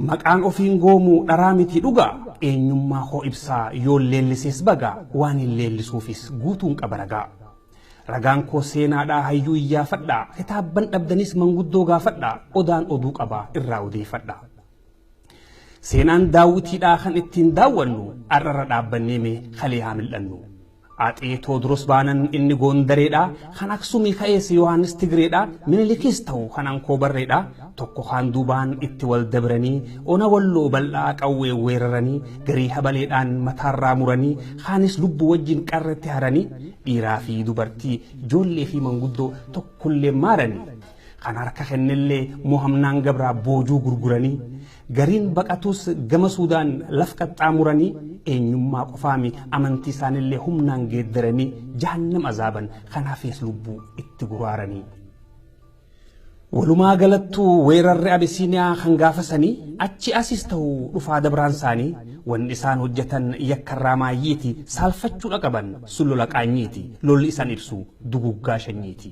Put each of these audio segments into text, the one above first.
Maqaan ofiin goomuu dharaa miti dhugaa Eenyummaa koo ibsaa yoon leellisees bagaa Waanin leellisuufis guutuun qaba ragaa Ragaan koo seenaadhaa hayyuu iyyaafadhaa Kitaabban dhabdanis manguddoo gaafadhaa Odaan oduu qaba irraa odeeyfadhaa Seenaan daawwitiidhaa kan ittiin daawwannu Ar'arra dhaabbanneeme kalee haa mil'annu. Atse Tewodros baanan inni Goondareedha, kan Aksumii ka'ees Yohaannis Tigreedha, Minilikis ta'u kan Ankoobarreedha, tokko kaan duubaan itti wal dabranii ona Walloo bal'aa qawween weeraranii garii habaleedhaan mataarraa muranii kaanis lubbuu wajjin qarretti haranii dhiiraa fi dubartii, joollee fi manguddoo tokkolleen maaranii. Kan harka kennellee mohamnaan gabraa boojuu gurguranii Gariin baqatuus gama Suudaan laf qaxxaamuranii eenyummaa qofaami amantii isaanillee humnaan geeddaranii jahannam azaaban kanaafis lubbuu itti guraaranii. Walumaa galattuu weerarri Abisiiniyaa kan gaafasanii achi asis ta'u dhufaa dabraan isaanii wanni isaan hojjetan yakkarraa maayyiiti saalfachuudha qaban sun lola qaanyiiti lolli isaan ibsu duguggaa shanyiiti.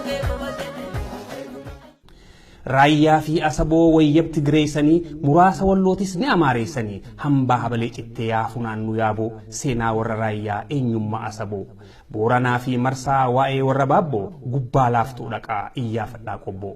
Raayyaa fi Asaboo wayyab Tigireessanii muraasa Wallootis ni Amaareessanii hambaa habalee cittee yaa funaannu yaaboo seenaa warra Raayyaa eenyummaa Asaboo Booranaa fi Marsaa waa'ee warra Baabboo gubbaa laaftuu dhaqaa iyyaafadhaa qobboo.